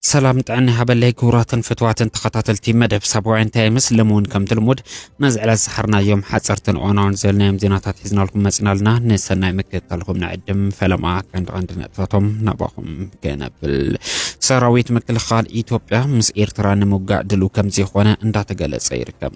ሰላም ጥዕና ሃበለይ ክቡራትን ፍትዋትን ተኸታተልቲ መደብ ሳብዋ እንታይ ይመስልም እውን ከምቲ ልሙድ ነዚ ዕለት ዝሓርናዮም ሓፀርትን እዋናውን ዘለናዮም ዜናታት ሒዝናልኩም መፅና ኣለና ንሰናይ ምክትታልኩም ንዕድም ፈለማ ቀንዲ ቀንዲ ነጥብታቶም ናባኹም ክነብል ሰራዊት ምክልኻል ኢትዮጵያ ምስ ኤርትራ ንምውጋእ ድልው ከም ዝኾነ እንዳተገለጸ ይርከብ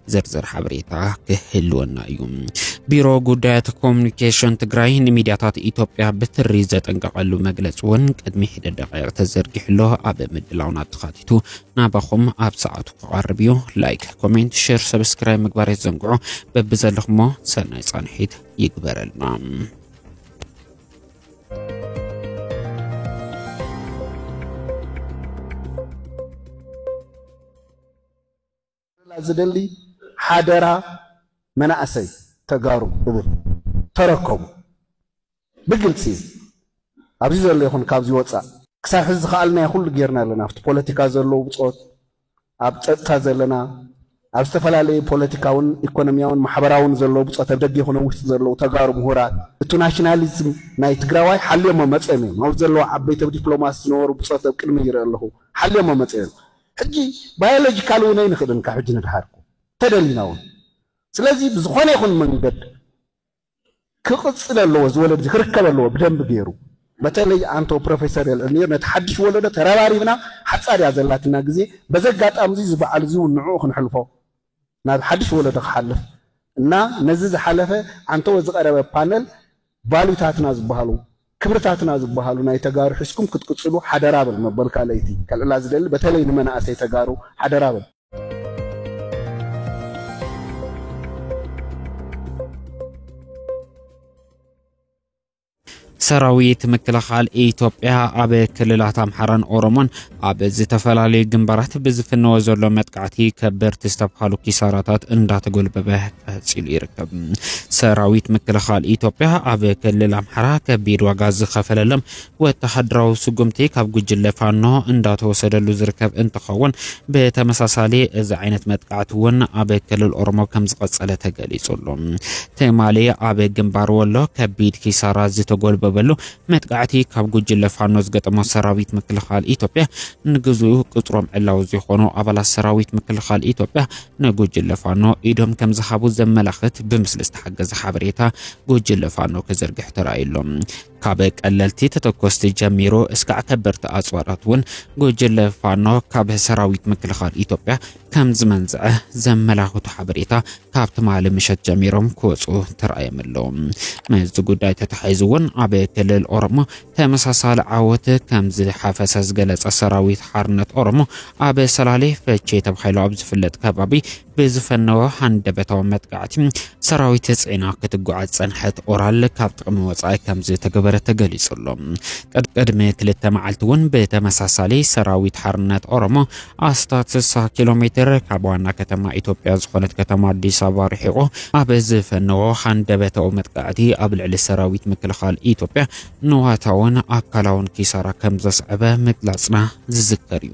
ዝርዝር ሓበሬታ ክህልወና እዩ። ቢሮ ጉዳያት ኮሚኒኬሽን ትግራይ ንሚድያታት ኢትዮጵያ ብትሪ ዘጠንቀቐሉ መግለፂ እውን ቅድሚ ሒደ ደቂቕ ተዘርጊሕሎ ኣብ ምድላውና ተኻቲቱ ናባኹም ኣብ ሰዓቱ ክቐርብ እዩ። ላይክ፣ ኮሜንት፣ ሼር፣ ሰብስክራይብ ምግባር የዘንግዑ። በብዘለኹሞ ሰናይ ፃንሒት ይግበረልና። ክነብረላ ዝደሊ ሓደራ መናእሰይ ተጋሩ እብል ተረከቡ ብግልፂ ኣብዚ ዘሎ ይኹን ካብዚ ወፃእ። ክሳብ ሕዚ ዝኸኣልናዮ ኩሉ ጌርና ኣለና ኣብቲ ፖለቲካ ዘሎ ብፆት ኣብ ፀጥታ ዘለና ኣብ ዝተፈላለዩ ፖለቲካውን ኢኮኖሚያውን ማሕበራውን ዘሎ ብፆት ኣብ ደገ ይኹን ኣብ ውሽጢ ዘለዉ ተጋሩ ምሁራት እቱ ናሽናሊዝም ናይ ትግራዋይ ሓልዮሞ መፅዮም እዮም ኣብዚ ዘለዉ ዓበይቲ ኣብ ዲፕሎማሲ ዝነበሩ ብፆት ኣብ ቅድመይ ይርኢ ኣለኹ ሓልዮሞ መፅዮም ሕጂ ባዮሎጂካል እውን ኣይንኽእልን ካብ ሕጂ ንድሓር እኮ ተደሊና እውን ስለዚ ብዝኾነ ይኹን መንገድ ክቕጽል ኣለዎ እዚ ወለድዚ ክርከብ ኣለዎ ብደንቢ ገይሩ በተለይ ኣንቶ ፕሮፌሰር ኤልዕሚር ነቲ ሓድሽ ወለዶ ተረባሪብና ሓጻር እያ ዘላትና ግዜ በዚ ኣጋጣሚ እዚ በዓል እዚ እውን ንዕኡ ክንሕልፎ ናብ ሓድሽ ወለዶ ክሓልፍ እና ነዚ ዝሓለፈ ዓንተወ ዝቀረበ ፓነል ቫሉታትና ዝባሃሉ ክብርታትና ዝባሃሉ ናይ ተጋሩ ሒዝኩም ክትቅፅሉ ሓደራ ብል መበል ካልኣይቲ ከልዕላ ዝደሊ በተለይ ንመናእሰይ ተጋሩ ሓደራ ብል። ሰራዊት ምክልኻል ኢትዮጵያ ኣብ ክልላት ኣምሓራን ኦሮሞን ኣብ ዝተፈላለዩ ግንባራት ብዝፍነወ ዘሎ መጥቃዕቲ ከበርቲ ዝተብሃሉ ኪሳራታት እንዳተጎልበበ ቀፂሉ ይርከብ። ሰራዊት ምክልኻል ኢትዮጵያ ኣብ ክልል ኣምሓራ ከቢድ ዋጋ ዝኸፈለሎም ወተሃደራዊ ስጉምቲ ካብ ጉጅለ ፋኖ እንዳተወሰደሉ ዝርከብ እንትኸውን ብተመሳሳሊ እዚ ዓይነት መጥቃዕቲ እውን ኣብ ክልል ኦሮሞ ከም ዝቐፀለ ተገሊፁ ኣሎ። ትማሊ ኣብ ግንባር ወሎ ከቢድ ኪሳራ ዝተጎልበበሉ መጥቃዕቲ ካብ ጉጅለ ፋኖ ዝገጠሞ ሰራዊት ምክልኻል ኢትዮጵያ ንግዙ ቅፅሮም ዕላዊ ዝኾኑ ኣባላት ሰራዊት ምክልኻል ኢትዮጵያ ንጉጅለ ፋኖ ኢዶም ከም ዝሃቡ ዘመላኽት ብምስሊ ዝተሓገዘ ሓበሬታ ጉጅለ ፋኖ ክዝርግሕ ተራእዩ ኣሎ። ካብ ቀለልቲ ተተኮስቲ ጀሚሩ እስካዕ ከበድቲ ኣጽዋራት እውን ጉጅለ ፋኖ ካብ ሰራዊት ምክልኻል ኢትዮጵያ ከም ዝመንዝዐ ዘመላኽቱ ሓበሬታ ካብ ትማሊ ምሸት ጀሚሮም ክወፁ ተራእዮም ኣለዉ። ምስዚ ጉዳይ ተተሓሒዙ እውን ኣብ ክልል ኦሮሞ ተመሳሳሊ ዓወት ከም ዝሓፈሰ ዝገለጸ ሰራዊት ሓርነት ኦሮሞ ኣብ ሰላሌ ፈቼ ተባሂሉ ኣብ ዝፍለጥ ከባቢ ብዝፈነወ ሃንደበታዊ መጥቃዕቲ ሰራዊት ጽዒና ክትጓዓዝ ጸንሐት ኦራል ካብ ጥቕሚ ወጻኢ ከም ዝተገበረ ተገሊጹ ኣሎ። ቅድሚ ክልተ መዓልቲ እውን ብተመሳሳሊ ሰራዊት ሓርነት ኦሮሞ ኣስታት 60 ኪሎ ሜትር ካብ ዋና ከተማ ኢትዮጵያ ዝኾነት ከተማ ኣዲስ ኣበባ ርሒቑ ኣብ ዝፈነዎ ሃንደበታዊ መጥቃዕቲ ኣብ ልዕሊ ሰራዊት ምክልኻል ኢትዮጵያ ንዋታውን ኣካላውን ኪሳራ ከም ዘስዐበ ምግላጽና ዝዝከር እዩ።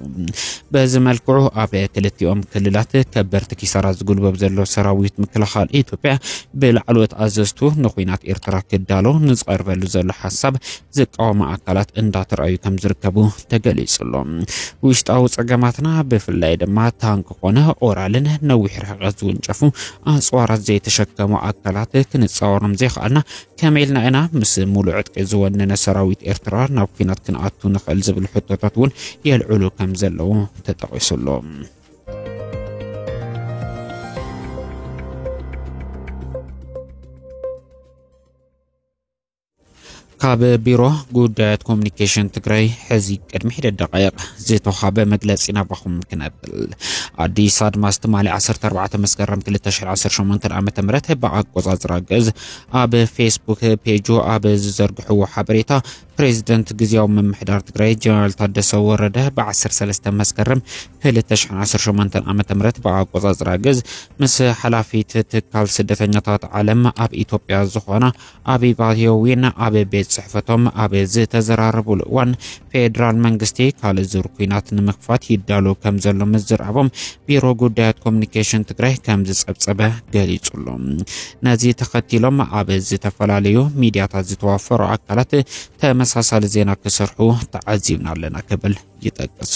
በዚ መልክዑ ኣብ ክልቲኦም ክልላት ከበርቲ ኪሳራ ዝጉልበብ ዘሎ ሰራዊት ምክልኻል ኢትዮጵያ ብላዕለዎት ኣዘዝቱ ንኩናት ኤርትራ ክዳሎ ንዝቐርበሉ ዘሎ ሓሳብ ዝቃወሙ ኣካላት እንዳተረኣዩ ከም ዝርከቡ ተገሊጹ ኣሎ። ውሽጣዊ ጸገማትና ብፍላይ ድማ ታንክ ኮነ ኦራልን ነዊሕ ርሕቀት ዝውንጨፉ ኣጽዋራት ዘይተሸከሙ ኣካላት ክንጻወሮም ዘይከኣልና ከመይ ኢልና ኢና ምስ ሙሉእ ዕጥቂ ዝወነነ ሰራዊት ኤርትራ ናብ ኩናት ክንኣቱ ንኽእል ዝብል ሕቶታት እውን የልዕሉ ከም ዘለዉ ተጠቒሱ ኣሎ። ካብ ቢሮ ጉዳያት ኮሚኒኬሽን ትግራይ ሕዚ ቅድሚ ሒደት ደቃይቕ ዝተዋሃበ መግለፂ ናባኹም ክነብል ኣዲስ ኣድማስ ትማሊ 14 መስከረም 2018 ዓ ም ብኣቆፃፅራ ግእዝ ኣብ ፌስቡክ ፔጁ ኣብ ዝዘርግሕዎ ሓበሬታ ፕሬዚደንት ግዜያዊ ምምሕዳር ትግራይ ጀነራል ታደሰ ወረደ ብ13 መስከረም 2018 ዓ ም ብኣቆፃፅራ ግዝ ምስ ሓላፊት ትካል ስደተኛታት ዓለም ኣብ ኢትዮጵያ ዝኾና ኣቢባ ዮዊን ኣብ ቤት ፅሕፈቶም ኣብ ዝተዘራረቡሉ እዋን ፌደራል መንግስቲ ካልእ ዙር ኩናት ንምኽፋት ይዳሎ ከም ዘሎ ምዝራቦም ቢሮ ጉዳያት ኮሚኒኬሽን ትግራይ ከም ዝጸብጸበ ገሊጹሉ ነዚ ተኸቲሎም ኣብ ዝተፈላለዩ ሚዲያታት ዝተዋፈሩ ኣካላት ተመሳሳሊ ዜና ክሰርሑ ተዓዚብና ኣለና ክብል ይጠቅስ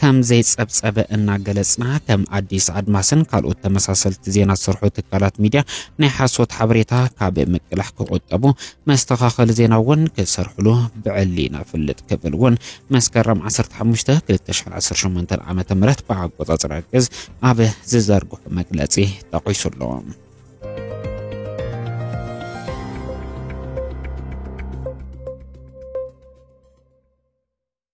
ከም ዘይጸብጸበ እናገለጽና፣ ከም ኣዲስ ኣድማስን ካልኦት ተመሳሰልቲ ዜና ዝሰርሑ ትካላት ሚድያ ናይ ሓሶት ሓበሬታ ካብ ምቅላሕ ክቑጠቡ፣ መስተኻኸሊ ዜና እውን ክሰርሕሉ ብዕሊ ነፍልጥ ክብል እውን መስከረም ዓሰርተ ሓሙሽተ ክልተ ሽሕን ዓሰርተ ሸሞንተን ዓመተ ምህረት ብኣቆጻጽራ ግእዝ ኣብ ዝዘርግሑ መግለጺ ጠቒሱ ኣሎ።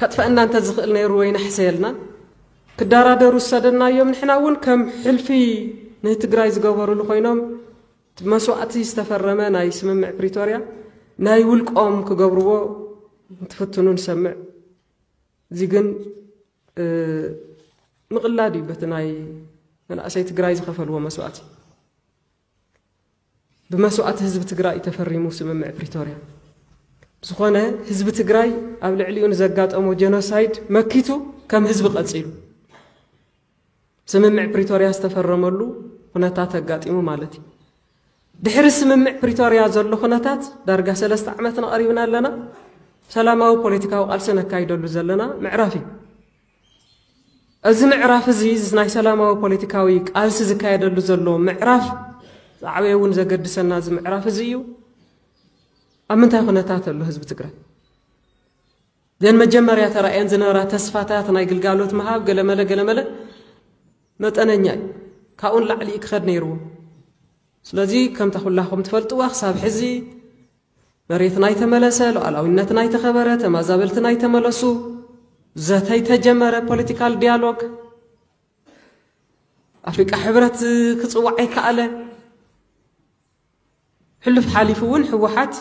ከጥፈእና እንተ ዝኽእል ነይሩ ወይ ነሕሰየልና ክዳራደሩ ዝሰደናዮም ንሕና እውን ከም ሕልፊ ንህትግራይ ዝገበሩሉ ኮይኖም መስዋእቲ ዝተፈረመ ናይ ስምምዕ ፕሪቶርያ ናይ ውልቆም ክገብርዎ እንትፍትኑ ንሰምዕ እዚ ግን ምቕላድ እዩ በቲ ናይ መናእሰይ ትግራይ ዝኸፈልዎ መስዋእቲ ብመስዋእቲ ህዝቢ ትግራይ ተፈሪሙ ስምምዕ ፕሪቶርያ ዝኾነ ህዝቢ ትግራይ ኣብ ልዕሊኡ ንዘጋጠሞ ጀኖሳይድ መኪቱ ከም ህዝቢ ቀፂሉ ስምምዕ ፕሪቶርያ ዝተፈረመሉ ኩነታት ኣጋጢሙ ማለት እዩ ድሕሪ ስምምዕ ፕሪቶርያ ዘሎ ኩነታት ዳርጋ ሰለስተ ዓመት ነቐሪብና ኣለና ሰላማዊ ፖለቲካዊ ቃልሲ ነካይደሉ ዘለና ምዕራፍ እዩ እዚ ምዕራፍ እዚ እዚ ናይ ሰላማዊ ፖለቲካዊ ቃልሲ ዝካየደሉ ዘሎ ምዕራፍ ዝዓበየ እውን ዘገድሰና እዚ ምዕራፍ እዚ እዩ። ኣብ ምንታይ ኩነታት ኣሎ ህዝቢ ትግራይ? ዘን መጀመርያ ተራእየን ዝነበራ ተስፋታት ናይ ግልጋሎት ምሃብ ገለመለ ገለመለ መጠነኛ እዩ። ካብኡ ንላዕሊ ክኸድ ነይርዎ። ስለዚ ከምታ ኩላኹም ትፈልጥዋ ክሳብ ሕዚ መሬትና ኣይተመለሰ፣ ሉኣላዊነትና ኣይተኸበረ፣ ተማዛበልትና ኣይተመለሱ፣ ዘተ ኣይተጀመረ፣ ፖለቲካል ዲያሎግ ኣፍሪቃ ሕብረት ክፅዋዕ ኣይከኣለ። ሕሉፍ ሓሊፉ እውን ህወሓት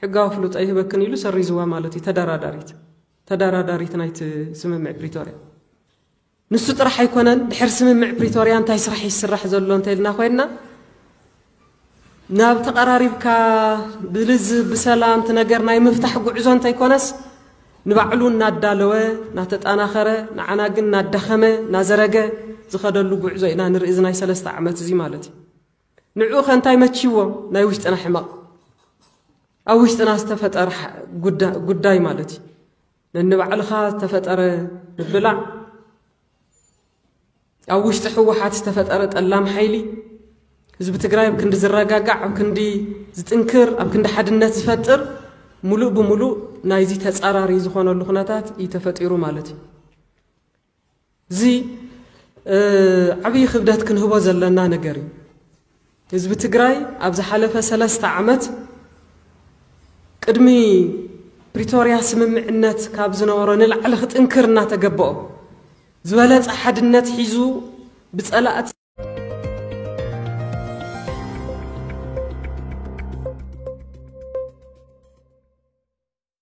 ሕጋዊ ፍሉጥ ኣይህበክን ኢሉ ሰሪዝዋ ማለት እዩ። ተደራዳሪት ተደራዳሪት ናይቲ ስምምዕ ፕሪቶርያ ንሱ ጥራሕ ኣይኮነን ድሕሪ ስምምዕ ፕሪቶርያ እንታይ ስራሕ እዩ ዝስራሕ ዘሎ እንተልና ኮይንና ናብ ተቐራሪብካ ብልዝብ ብሰላም እቲ ነገር ናይ ምፍታሕ ጉዕዞ እንተይኮነስ ንባዕሉ እናዳለወ እናተጠናኸረ ንዓና ግን እናዳኸመ እናዘረገ ዝኸደሉ ጉዕዞ ኢና ንርኢ እዚ ናይ ሰለስተ ዓመት እዚ ማለት እዩ ንዕኡ ከ እንታይ መቺዎ ናይ ውሽጥና ሕመቕ ኣብ ውሽጥና ዝተፈጠረ ጉዳይ ማለት እዩ ነንባዕልኻ ዝተፈጠረ ምብላዕ፣ ኣብ ውሽጢ ህወሓት ዝተፈጠረ ጠላም ሓይሊ፣ ህዝቢ ትግራይ ኣብ ክንዲ ዝረጋጋዕ፣ ኣብ ክንዲ ዝጥንክር፣ ኣብ ክንዲ ሓድነት ዝፈጥር ሙሉእ ብሙሉእ ናይዚ ተፃራሪ ዝኾነሉ ኩነታት እዩ ተፈጢሩ ማለት እዩ። እዚ ዓብዪ ክብደት ክንህቦ ዘለና ነገር እዩ። ህዝቢ ትግራይ ኣብ ዝሓለፈ ሰለስተ ዓመት ቅድሚ ፕሪቶርያ ስምምዕነት ካብ ዝነበሮ ንላዕሊ ክጥንክር እናተገበኦ ዝበለፀ ሓድነት ሒዙ ብፀላእቲ